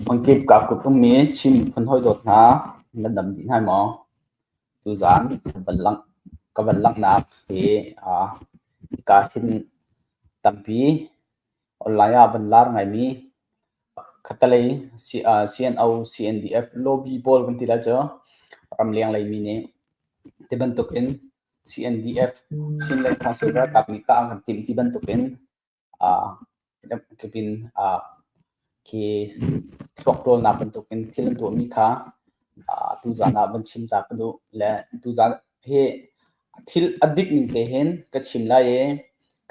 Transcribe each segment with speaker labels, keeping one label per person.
Speaker 1: Hmangkip kaa kut ummi Chin miphun hawi dawt hna, na dam dih hnai maw? Tuzaan ka van langhnak hi hika hin tampi online ah van lar ngaimi khattelei CNO, CNDF lobby pawl kan ti lai cu ramleng leimi nih. Ti bantukin CNDF, Chin le Council ralkap nih kah an kan timh ti bantukin. Kipin khi thluak ṭawlnak bantukin thil an tuahmi kha tuzaan ah van chim ta ka duh. Le tuzaan hi thil a dik ning te hin ka chim lai i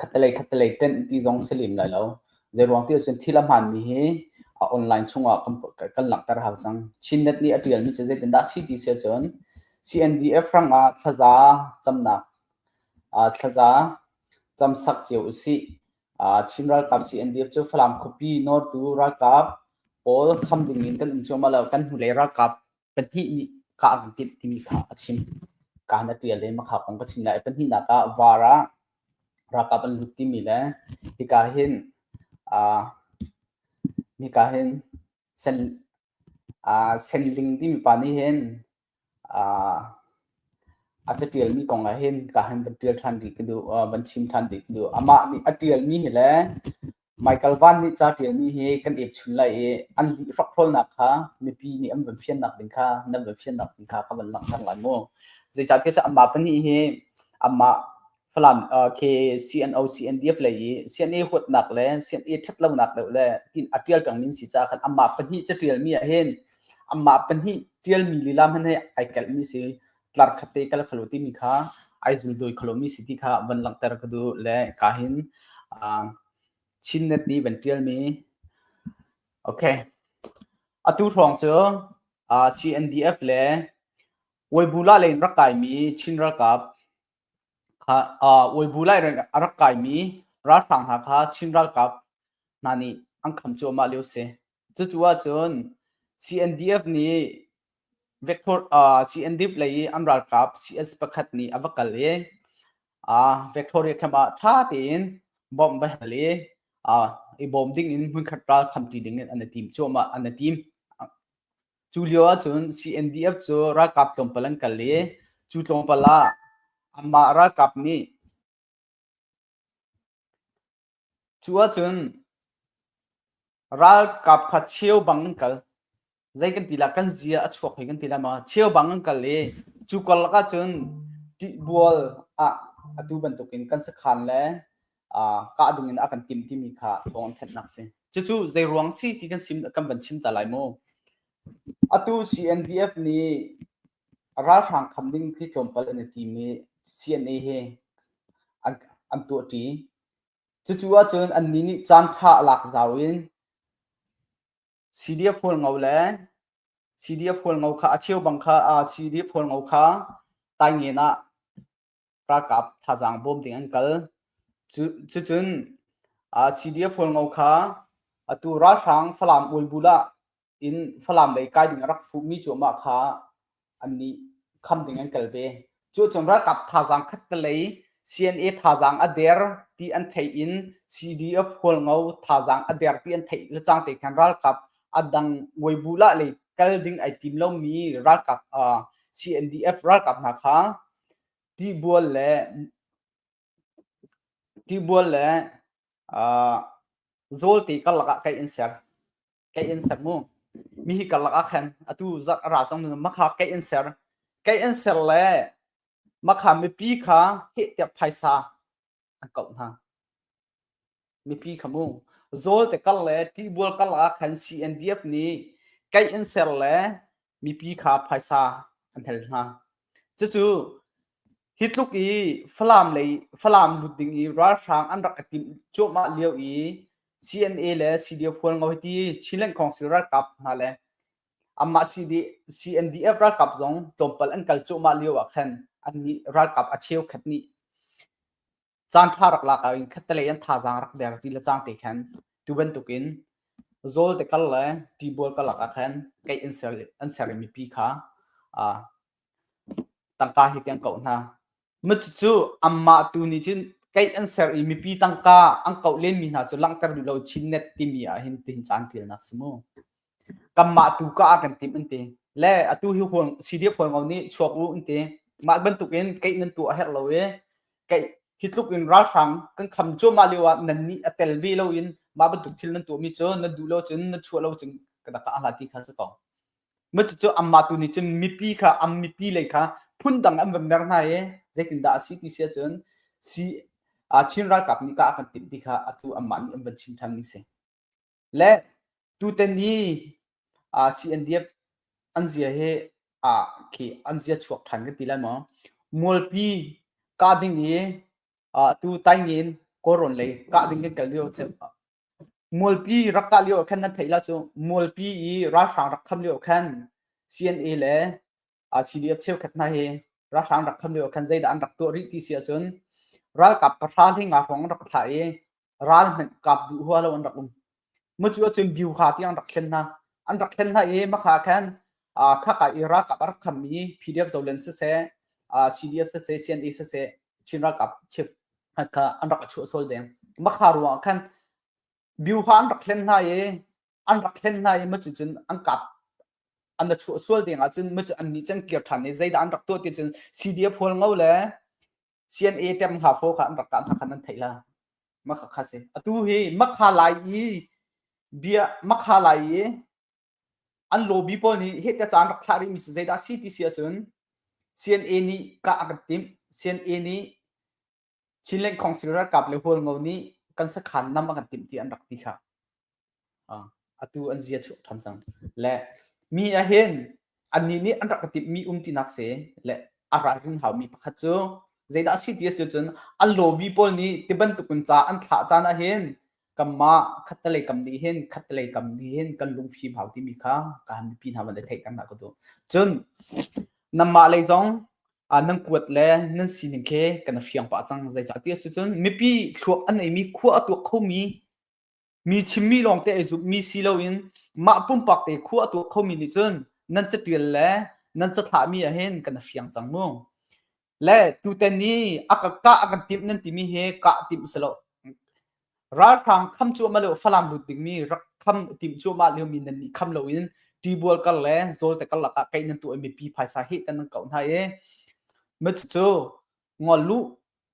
Speaker 1: khattelei khattelei ṭenh ti zong si lem lai lo. Zeiruang tiah cun thil a hmaanmi hi online chungah kan langhter hau cang. Chinnet nih a ṭialmi cu zeitindah a si ti si ahcun CNDF hrangah thlaza camnak, thlaza cam sak cio usih. Chin ralkap CNDF cu Falam khuapi nortu ralkap pawl kham ding in kan um cuahmah lo. Kan hnulei ralkap pahnih nih kah an timh timi kha a chim. Kaan a ṭial le makha kong ka chim lai. Pahnihnak ah VAR ah ralkap an lut timi le hika hin hika hin sen ling timi pa nih hin a catialmi kong ah hin ka han van ṭial ṭhan dih ka duh van chim ṭhan dih ka duh. Amah nih a ṭialmi hi le Michael Van nih ca ṭialmi hi kan ep chun lai i an lih hrokhrawlnak kha mipi nih an van fiannak ding kha nan van fiannak ding kha ka van langhter lai mu. Zeicahtiah cu amah pahnih hi amah Falam uh, KCNO CNDF lei i CNA huatnak le CNA ṭhatlonak deuh le in a ṭial pengmi si caah khan amah pahnih ca ṭialmi ah hin amah pahnih ṭialmi lila hmanh he ai kelhmi si tlar khatte kal khalo timi kha ai zuldawi kholomi si ti kha van langhter ka duh le ka hin uh, Chinnet nih van ṭialmi okay atu hrawng cu uh, CNDF le Waibula le in rak kaimi Chin ralkap Uibu lai in a rak kaimi ralhrang hna kha Chin ralkap hna nih an kham cuahmah lio a si. Cucu ahcun CNDF nih CNDF lei i an ralkap CS pakhat nih a va kal i Victoria camp ah ṭha tein bomb va hel i bawm ding in hmunkhat ral khamṭi ding in an i tim cuahmah, an i tim. Cu lio ahcun CNDF cu ralkap tlawmpal an kal i cu tlawmpal ah anmah ralkap nih cu ahcun ralkap kha cheubang an kal zei kan ti lah kan zia a chuak hoi kan ti lah ma cheubang an kal i cu karlak ahcun ṭihbual ah atu bantukin kan sakhan le kahdoing in a kan tim timi kha thawng an thennak si cucu zeiruang si ti kan sim kan van chim ta lai mu atu CNDF nih ralhrang kham ding khi tlawmpal an i tim i CNA he an tuahṭi cucu ahcun anni nih caan ṭha a lak zau in CDF hual ngo le CDF hual ngo kha a cheu bang kha CDF hual ngo kha tai ngen ah ralkap thazaang bawm ding an kal. Cucun CDF-Holngo kha atu ralhrang Falam Uigbul ah in Falam lei kai ding a rak fuhmi cuahmah kha annih kham ding an kal ve. Cucun ralkap thazaang khattelei CNA thazaang a der ti an theih in CDF-Holngo thazaang a der ti an theih lecang te khan ralkap adang Uigbul ah lei kal ding ai tim lomi ralkap CNDF ralkap hna kha Tibual le zawlte karlak ah kai in ser. Kai in ser mu. Mihi karlak ah khan atu zarh a ra cang nain makha kai in ser. Kai in ser le makha mipi kha heh tiah phaisa an kauh hna. Mipi kha hmu. Zawlte kar le tibual karlak ah khan CNDF nih kaih an ser le mipi kha phaisa an hel hna. Cucu hi tluk i Falam lei Falam lut ding i ralhrang an rak i timh cuahmah lio i CNA le CDF hualngo hiti Chinland Council ralkap hna le anmah CNDF ralkap zong tlawmpal an kal cuahmah lio ah khan annih ralkap a cheukhat nih caanṭha rak lak ah in khattelei an thazaang rak der ti le cang te khan tu bantukin zawl te kal le tibual kal ah khan keih an ser an ser mi pi kha a tangka hi tiang ko hna mit cu amma tu ni cin keih an ser i mipi tangka an koh len mi hna cu langhter duh lo chin net timi ah hin tin caan til nak si mu kanmah tu ka ah kan tim an ti le atu hi hual CDF hualngo nih chuak u an ti mah bantuk in keih nan tu a herh lo i keih hi tluk in ralhrang kan kham cuahmah lio ah nan nih a tel ve lo in mah bantuk thil nan tuah mi cu nan duh lo cun nan chuah lo cun ka daka ahla ti kha si ko ma cucu amma tu nih cun mipi kha am mipi lei kha phun dang an van mer hna i zeitin dah a si ti sia cun si a Chin ralkap nih ka kan tim ti kha atu amma nih an van chim than ni si Le tutan hi uh, CNDF an zia hi uh, khi an zia chuak than kan ti lai maw mualpi ka ding i uh, tu taingin koron lei ka ding kan kal lio mualpi rak ka lio khan nan thei la chu mualpi i ralhrang rak kham lio khan CNA le CDF cheukhat hna hi ralhrang rak tham lio khan zeidah an rak tuah rih ti si ahcun ralkap pahra hlinga hrawng rak thlah i ral hmanh kap duh hua lo an rak um mucu ahcun biu kha tiang rak thlen hna an rak thlen hna i makha khan khaka i ralkap a rak kham i pdf zolen siseh cdf siseh cna siseh chin ralkap chip kha an rak a chuah sual deng makha ruang khan biu kha an rak thlen hna i an rak thlen hna i macu cun an kap an la chuah sual ding ahcun macu an nih cang kir ṭhan i zeidah an rak tuah ti cun CDF hual ngo le CNA ṭem hna fo kha an rak kah hna khan an theih la makha kha si atu hi makha lai i bia makha lai i an lobby pawl nih hete caan rak thlah rihmi si zeidah si ti si ahcun CNA nih kah a kan timh CNA nih Chin Lengkhawngsir ralkap le hualngo nih kan sakhan nam a kan timh ti an rak ti kha. Atu an zia chuak ṭhan cang. Le mi ahhin annih nih an rak ka timhmi umtinak si le a ralrin haumi pakhat cu zeidah a si ti a si cun an lawbi pawl nih ti bantukin ca an thlah caan ahhin kanmah khattelei kam nih hin khattelei kam nih hin kan lungfim hau timi kha ka han mipi hna van i theih kan hna ka duh cun nanmah lei zong nan kuat le nan sining khe kan fiang pah cang zeicah ti si cun mipi thluak an ei mi khua a tuak kho mi mi chimmi lawngte ei zup mi si loin mah pumpak te khua a tuak kho mi nih cun nan catial le nan cathlah mi ah hin kan fiang cang mu le tuten i a ka kah a kan timh nan timi hi kah timh a si lo ralhrang kham cuahmah lio falam lut dingmi rak kham timh cuahmah lio mi nan nih kham lo in tibual kar le zawlte kar lakah kei nan tu mipi phaisa hi tan nan kauh hna i ma cu ngol lu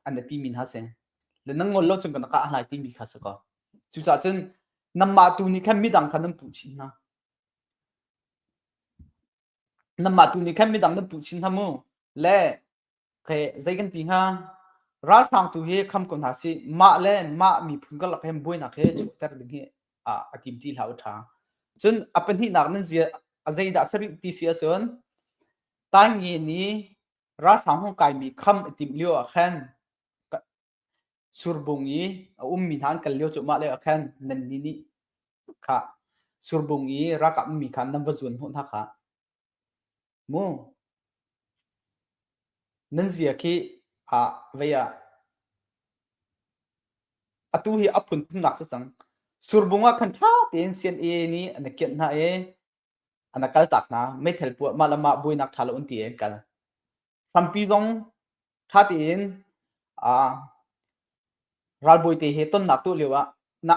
Speaker 1: an ti min ha se le nan ngol lo chung kan ka hlai ti mi kha se ko cucah cun namma tu nih khan midang khan nan puh chin hna Nanmah tu nih khan midang nan puh chin hna mu le khe zei kan ti hnga ralhrang tu hi kham ko hna si mah le mah miphun karlak hem buainak he chuahter ding hi a, a tim ti hlah u tha cun a pahnihnak nan zia a zeidah sarih ti si ahcun tai nge ni ralhrang hong kai mi kham a tim lio ah khan Surbung i a ummi hna an kal lio cu mahle ah khan nannih nih kha surbung i ralkap ummi kha nan va zuan hnawh hna kha mu. Nan zia khi ah vei ah atu hi a phunphunnak si cang. Surbung ah khan ṭha tein sian'e nih an i kianh hna i an kal tak hna. Meithal puah mah le mah buainak ṭha lo an ti i an kal. Hrampi zong ṭha tein aa ralbawi te he tonnak tuah lioah na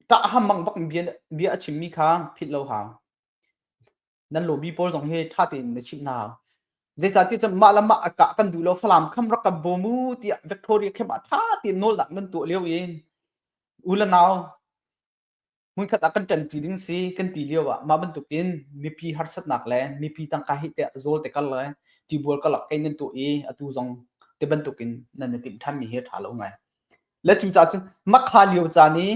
Speaker 1: ṭah ham bang bak bia, bia a chimmi kha philh lo hau. Nan lawbi pawl zong hi ṭha tein na chimh hna hau. Zeicahtiah cun mah le mah a kah kan duh lo, Falam kham rak kan bawm u tiah Victoria khem ah ṭha tein nawlnak nan tuah lio in u le nau hmunkhat ah kan ṭanṭi ding si kan ti lio ah mah bantukin mipi harsatnak le mipi tangka hi te zawl te kal le ṭibual kalak kai nan tuah i atu zong te bantukin nan i timh ṭhanmi hi ṭha lo ngai le cu ca cu makha lio caan i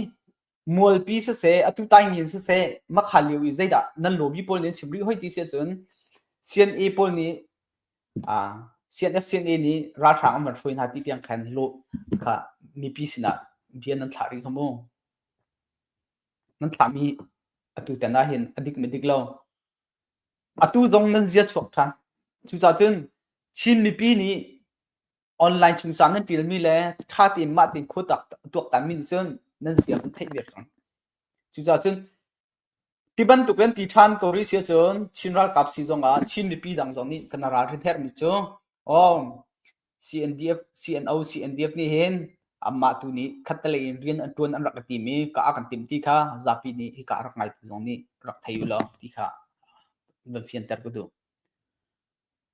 Speaker 1: mualpi siseh atu taingin siseh makha lio i zeidah nan lobi pawl nih chim rih hoi ti si cun CNA pawl nih a CNF CNA nih ralhrang an van hruai hna ti tiang khan lo kha mipi sinah bia nan thlah rih kha mu Nan thlahmi atu ten ahhin a dik madik lo. Atu zong nan zia chuak ṭhan. Cucacun Chin mipi nih online chungcang nan ṭialmi le ṭha tein mah tein khuatak a tuaktanmi nih cun nan zia kan theih viar cang. Cucacun Ti bantuk in ti ṭhan ko rih si ahcun Chin ralkap si zongah Chin mipi dang zong nih kan ralrin herhmi cu um CNDF, CNO, CNDF nih hin anmah tu nih khattelei in rian an ṭuan an rak i tim i ka ah kan timh ti kha zapi nih hika a rak ngaitu zong nih rak thei u law ti kha van fianter ka duh.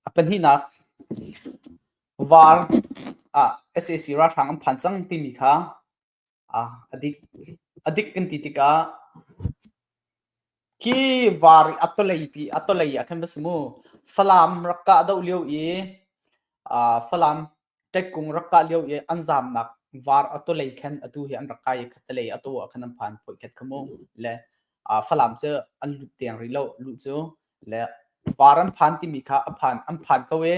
Speaker 1: A pahnihnak VAR ah SAC ralhrang an phan cang timi kha Ah a dik. A dik kan ti tikah hi var i a tawlei pi a tawlei ah khan va si mu Falam rak kah doh lio i ah Falam ṭekkung rak kah lio i an zamnak var a tawlei khan atu hi an rak kai i khatalei a tu ah khan an phan phoih khat kha mu le Falam cu an lut tiang rih lo luh cu le var an phan timi kha a phan an phan ko i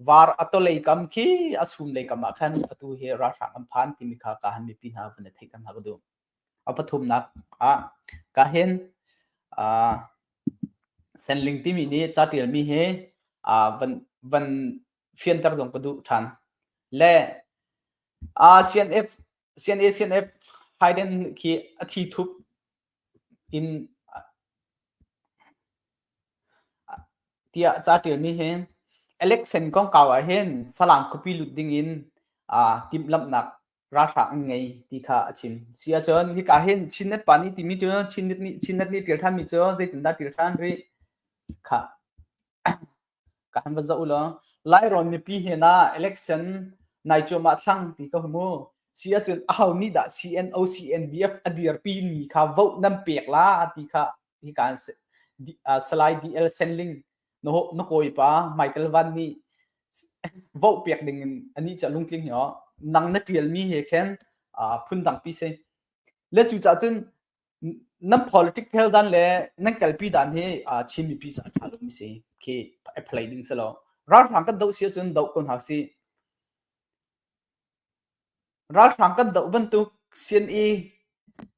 Speaker 1: var a tawlei kam khi a sum lei kam ah khan atu hi ralhrang an phan timi kha ka han mipi hna van i theih than hna ka duh a pathumnak ah ka hin senling timi nih ca tialmi hi van van fianter zong ka duh than le CNF CNA-CNF Hayden khi a thi thup in tiah ca ṭialmi hi election kongkau ah hin Falam khuapi lut ding in timhlamhnak ralhrang an ngei ti kha a chim si ahcun hika hin Chinnet pa nih timi cu Chinnet nih Chinnet nih ṭial ṭhanmi cu zeitindah ṭial ṭhan rih kha Kan va zoh law Lairawn mipi hnenah election nai cuahmah thlang ti ka hmu. Si ahcun aho nih dah CNO CNDF a dirpi mi kha vote nan pek la ti kha hi kaan Salai DL Senling na kawi pa Michael Van nih vote pek ding in anih ca lungtling hi nang na tial mi he khin phundang pi si. Le cucah cun nan political dan le nan kalpi dan hi Chin mipi cu a tha lomi si khi apply ding si lo ralhrang kan doh si ahcun doh ko hna si ralhrang kan doh bantuk CNE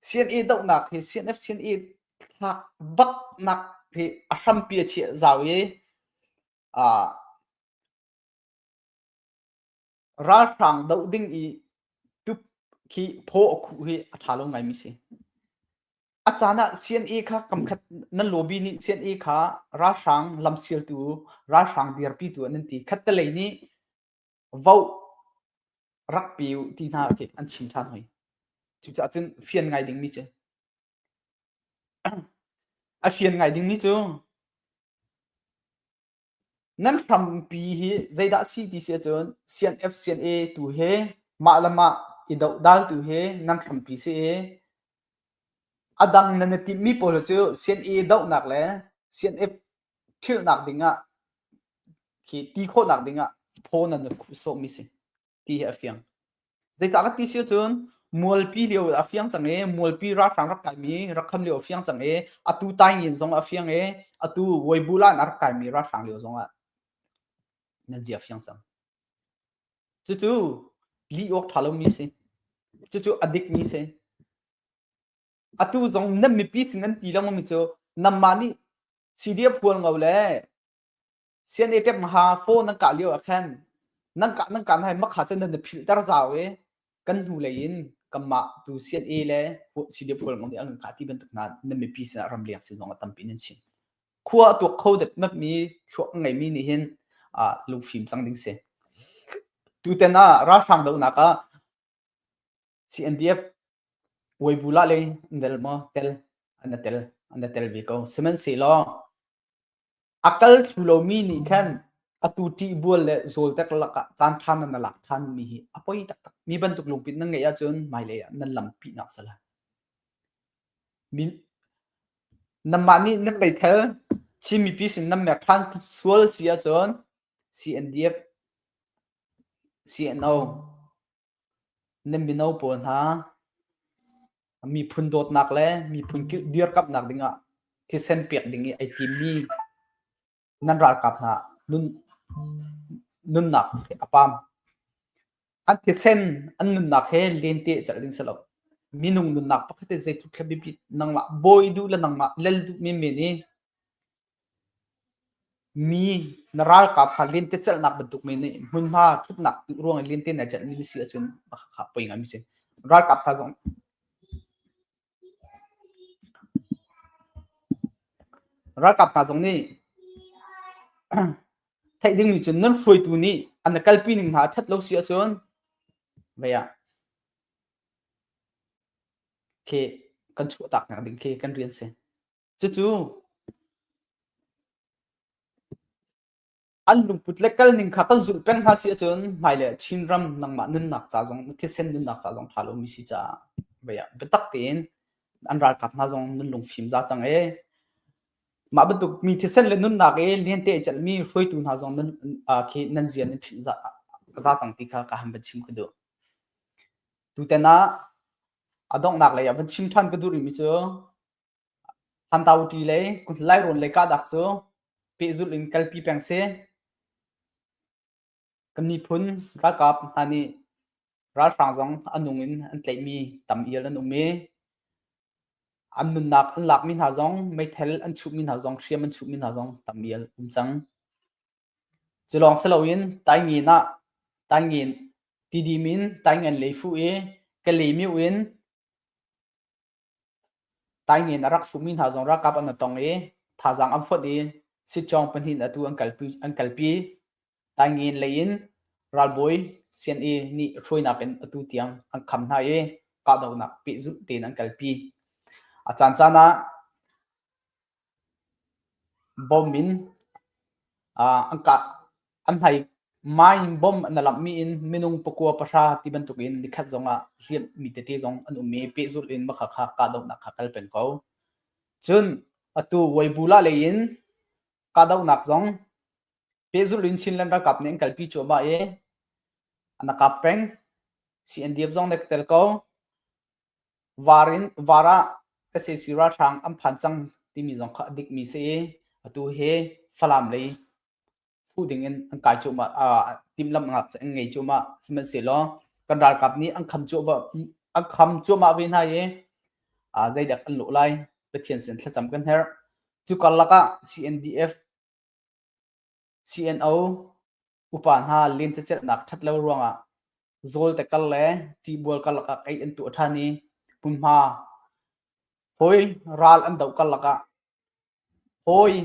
Speaker 1: CNE dohnak hi CNF CNE thlak baknak hi a hrampi a chiah zau i ralhrang doh ding i tup khi phaw a khuh hi a ṭha lo ngaimi si. A caan ah CNA kha kamkhat nan lobby nih CNA kha ralhrang lamsialtu ralhrang dirpitu nan ti khattelei nih vote rak pe u ti hna khi an chim ṭhan hoi. Cucaah cun fian ngai dingmi cu a fian ngai dingmi cu Nan hrampi hi zeidah a si ti si ahcun CNF CNA tu he mah le mah i dohdaltu he nan hrampi si i a dang nan i timhmi pawl cu CNA dohnak le CNF ṭhilhnak dingah khi ti khawhnak dingah phaw nan i sawhmi si. ti hi a fiang. Zeicah ka ti si cun mualpi lio a fiang cang i mualpi ralhrang rak kaimi rak kham lio a fiang cang i atu taingian zong a fiang i atu Weibulah in a rak kaimi ralhrang lio zongah nan zi a fiang cang. Cucu lih awk ṭha lomi si. Cucu a dikmi si. Atu zong nan mipi sin an ti lengmangmi cu nanmah nih CDF hual ngo le sian e ṭep ha phone nan kah lio ah khan nan kah nan kah hna makha can nan na philhter zau i kan hnu lei in kanmah tu CNA le CDF fual ngong nih an kah ti bantuk hna nan mipi sinah ram leng sin zong a tampi nan chim khua a tuak kho dep map mi thluak ngai mi nih hin lung fim cang ding si tuten ah ralhrang do nak ah CNDF Weibulah le nel maw tel an tel an tel ve ko sihmanhsehlaw a kal thlu lomi nih khan atu ṭih bual le zawltek lakah caan ṭha nan lak ṭhanmi hi a poi taktak mi bantuk lungpit nan ngeih ahcun hmailei ah nan lam pihnak sala namah nih nan bei thel Chin mipi sin nan mek ṭhan sual si ahcun CNDF CNO Na mino pawl hna miphun dawtnak le miphun dirkamhnak dingah thisen pek ding i ai timmi nan ralkap hna nun, nunnak a pam. An thisen an nunnak he lente celh ding si lo. Minung nunnak pakhat i zeitluk thla biapit nangmah bawi duh le nangmah lel duh menmen i Mi na ralkap kha lentecelhnak bantuk men nih hmunhma ṭhutnak ruang i lente nai celhmi na si ahcun khá poi ngaimi a si. Ralkap tha zong ralkap hna zong nih theih dingmi cu nan hruaitu nih an i kalpi ning hna ṭhat lo si ahcun vei ah khi kan chuahtak nak ding khi kan rian si. Cucu an lungput le kal ning kha kan zulh peng hna si ahcun hmailei ah Chinram nangmah nunnak ca zong thisen nunnak ca zong tha lomi si caah baya biatak tein an ralkap hna zong nun lung fim za cang e mah bantuk mi thisen le nunnak e liante celhmi hruaitu hna zong nan khi nan zian in ṭhinh za za cang ti kha ka han van chim ka duh tuten ah a donghnak lei ah van chim ṭhan ka duh rimi cu Hantauṭi le kuthilairuun le kahdak cu pehzulh in kalpi peng seh. Kan miphun ralkap hna nih ralhrang zong a nung in an tlaihmi tam ial an um i an nunnak an lakmi hna zong meithal an chuhmi hna zong hriam an chuhmi hna zong tam ial um cang. Cu lawng si loin Taingein ah Taingein tidim in Taingein lei fuh i Kalay myo in Taing in a rak sumi hna zong ralkap an va tong i thazaang an fonh i sitcawng pahnih in atu an kalpi. Taing in lei in ralbawi CNA nih hruainak in atu tiang an kham hna i kahdohnak pehzulh tein an kalpi. A caancaan ah bomb in an kah. a hnai mai in bom na langhmi in minung pakua pahra ti bantuk in nikhat zong ah riamhmi tete zong an um i pehzulh in makha kha kahdohnak kha kal peng ko. Cun atu Waibula lei in kahdohnak zong pehzulh in Chinland ralkap nih an kalpi cuahmah i ana kap peng CNDF zong nih tel ko var in var ah SAC ralhrang an phan cang timi zong kha a dikmi si i atu hi Falam lei fu dingin an kai cuahmah, uh, timlam an ngei cuahmah. Sihmanhsehlaw kan ralkap nih an kham cuahmah, an kham cuahmah ve hna i uh, zeidak an luh lai Pathian sin thlacam kan herh. Cu karlak ah CNDF, CNO, upa hna lentecelhnak ṭhat lo ruangah zawlte kal le ṭihbual karlak ah kai an tuah ṭhan i hmunhma hawi ral an doh karlak ah Hawi,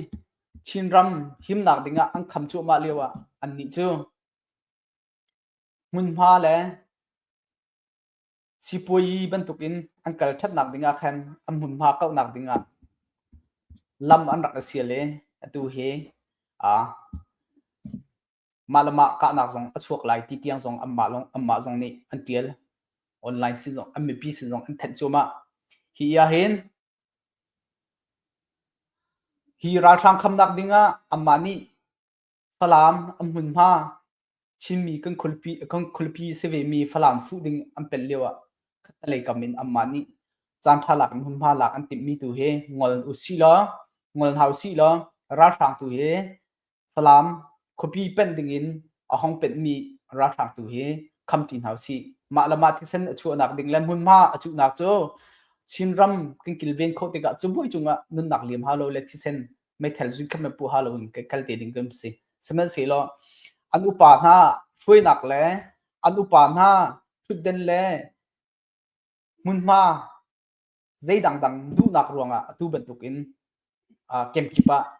Speaker 1: Chinram himnak ding ah an kham cuahmah lio ah annih cu hmunhma le sipuayi bantuk in an kal ṭhatnak ding ah khan an hmunhma kauhnak ding ah lam an rak i sial i atu hi aa mah le mah kahnak zong a chuak lai ti tiang zong anmah, lawng, anmah zong nih an ṭial. Online si zong, an mipi si zong an thenh cuahmah. Hi ahhin hi ralhrang khamnak ding ah anmah nih Falam an hmunhma Chinmi kan khualpi kan khualpi si vemi Falam fuh ding an pelh lio ah khattalei kam in anmah nih caanṭha lak in hmunhma lak an timhmi tu hi ngol usih law, ngol hna usih law ralhrang tu hi Falam khuapi panh dingin a hong penhmi ralhrang tu hi kham ṭi hna usih. Mah le mah thisen a chuahnak ding le hmunhma a cuhnak cu Chinram kan kilven khawh tikah cubuai cungah nunnak liam halo le thisen meithal zun khat me puh halo in kan kal te ding kan si. Sihmanhsehlaw an upa hna hruainak le an upa hna ṭhutden le hmunhma zei dangdang duhnak ruangah atu bantukin uh, kemkip ah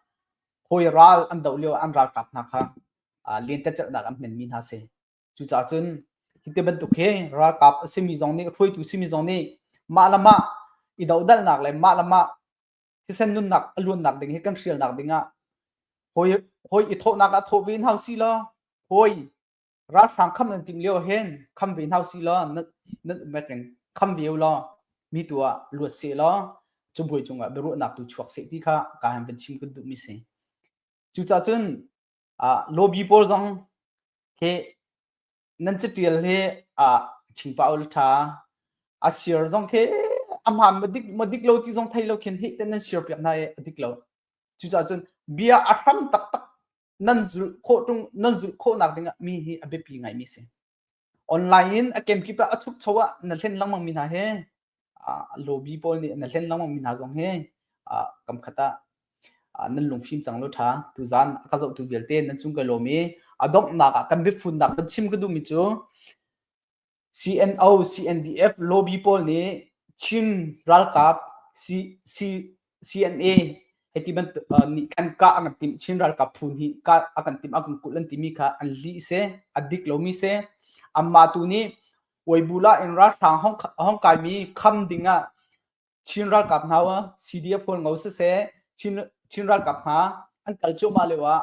Speaker 1: hawi ral an doh lio an ralkap hna kha uh, lentecelhnak an hmenmi hna si cucaah cun hi te bantuk hi ralkap a simi zong nih hruaitu simi zong nih mah le mah i dodalnak le mah le mah thisen nunnak a luannak ding hi kan hrialnak dingah hawi hawi i thawhnak ah thawh ve hau si lo hawi ralhrang kham nan ting lio hen kham ve hna si law nan nan um reng kham ve law mi tu ah luat se law cu buai cung ah biaruahnak tu chuak se ti kha ka han van chim kun duh mi si cucah cun lobby pawl zong he nan catial he a thingpa ol tha a share zong he amham madik madik lo ti zong thei lo khin hi ten nan share piak na e adik lo cucah cun bia a hram tak tak nan zulh khawh ṭung nan zulh khawhnak dingah mi hi a biapi ngaimi a si. Online in a gamekip ah a chukcho ah na hlen lengmangmi hna he lobby pawl nih na hlen lengmangmi hna zong he kam khat ah nan lungfim cang lo ṭha. Tuzan a ka zohtu vialte nan cung ka lawm i a donghnak ah kan biafunnak kan chim ka duhmi cu CNO, CNDF lobby pawl nih Chin ralkap CNA hei ti bantuk nih khan kah a kan timh. Chin ralkap phu nih kah a kan timh, a kan kulh an timi kha an lih si, a dik lomi si. Anmah tu nih Uaibula in ralhrang a hong kaimi kham dingah Chin ralkap hna CDF hol ngo siseh, Chin ralkap hna an kal cuahmah lioah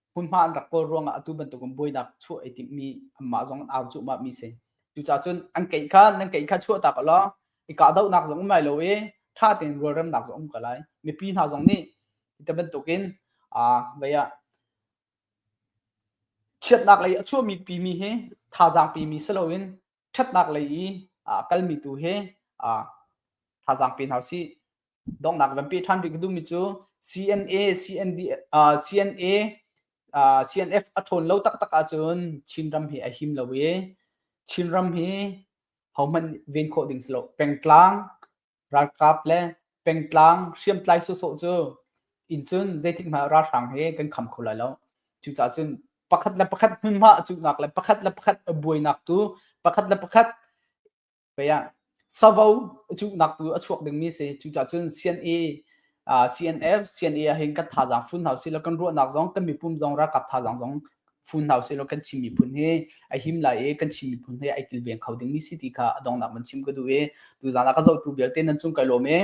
Speaker 1: hmunhma an rak kawl ruangah atu bantukin buainak chuah ai timhmi anmah zong an au cuhmah mi si cucaah cun an keih kha nan keih kha chuah tak law i kahdohnak zong um lai lo i ṭha tein rualremnak zong um ko lai mipi hna zong nih hi bantukin ah vai ah chiatnak lei a chuahmi pi mi hi thazaang pi mi si loin ṭhatnak lei i a kalmi tu hi thazaang pe hna usih. Donghnak van pe ṭhan rih ka duhmi cu CNA, CND, uh, CNA, uh, CNF a ṭhawn lo taktak ahcun Chinram hi a him lo i Chinram hi hohmanh ven khawh ding si lo. Pengtlang, ralkap le pengtlang hriamtlai sawsawh cu incun zeitik hmanh ralhrang he kan kham kho lai lo cucaah cun pakhat le pakhat hmunhma a cuhnak le pakhat le pakhat a buainak tu pakhat le pakhat pei ah savo a cuhnak tu a chuak dingmi si cucaah cun CNA CNF, CNA ahhin kan thazaang fun hau silo kan ruahnak zong kan mipum zong ralkap thazaang zong fun hau silo kan Chin miphun hi a him lai i kan Chin miphun hi ai kilveng kho ding mi si ti kha a dongnak man chim ka duh i tuzan ah ka zohtu vialte nan chung kai lawm i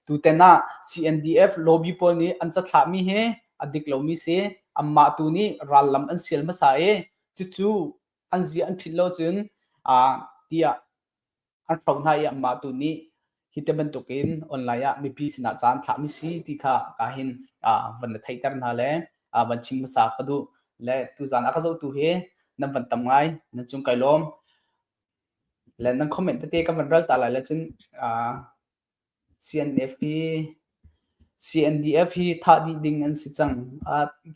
Speaker 1: tuten ah CNDF lobby pawl nih an cathlah mi hi a dik lo mi si amah tu nih rallam an sial hmasa i cucu an zi an ṭhit lo cun a tiah an ṭhawng hna i amah tu nih hi ti bantukin online ah mipi sinah caan thlahmi si ti kha ka hin van na theihter hna le van chim hmasa ka duh le tuzan a ka zotu hi nan van tam ngai nan cung kai lawm le nan comment tete ka van ral ta lai le cun CNF hi CNDF hi thah dih ding an si cang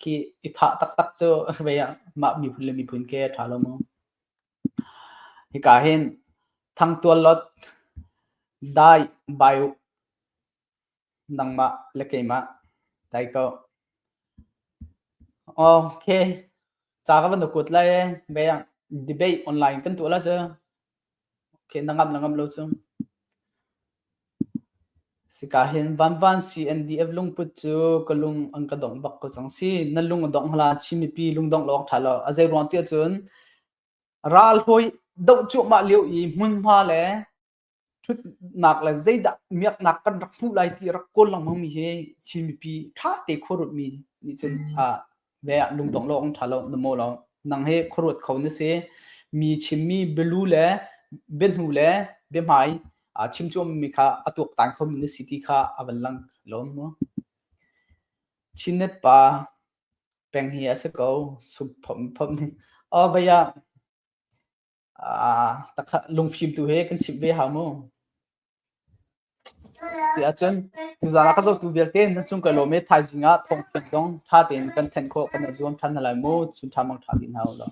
Speaker 1: khi i thah taktak cu vei mah miphun le miphun ke ṭha lo maw Hika hin thangtual lot dai bai u, nangmah le keimah dai ko. Ok, ca ka van ukut lai ee, beng debate online kan tuah la cu. Ok, na ngamh le ngamh lo cu. Sika hin Vanvan CNDF lungput cu ka lung an ka dongh bak ko cang si. Na lung a dongh hlan Chin mipi lungdongh lawng ṭha lo. A zei ruang tiah cun ral hawi doh cuahmah lio i hmunhma le ṭhutnak le zeidah miaknak kan rak hmuh lai ti rak kawl lengmang mi hi Chin mipi ṭha te khuarut mi nih cun a ve ah lungdong lo ong ṭha lo na maw lo nang hi khuaruat kho na si mi chimmi bialu le biahnu le biahmai aa chimcuammi kha a tuaktan khomi na si ti kha a van lang lawm mu chinet pa peng hi a si ko sum phom phom ning o vaya takha lungfim tu he kan chimh ve hau mu ti ahcun tuzaan ah ka dotu vialte nan cung ka lawm e thaizing ah thong thiam zong ṭha tein kan thenh khawh kan i zuam ṭhan hna lai mu chun ṭha mang ṭha din hna u law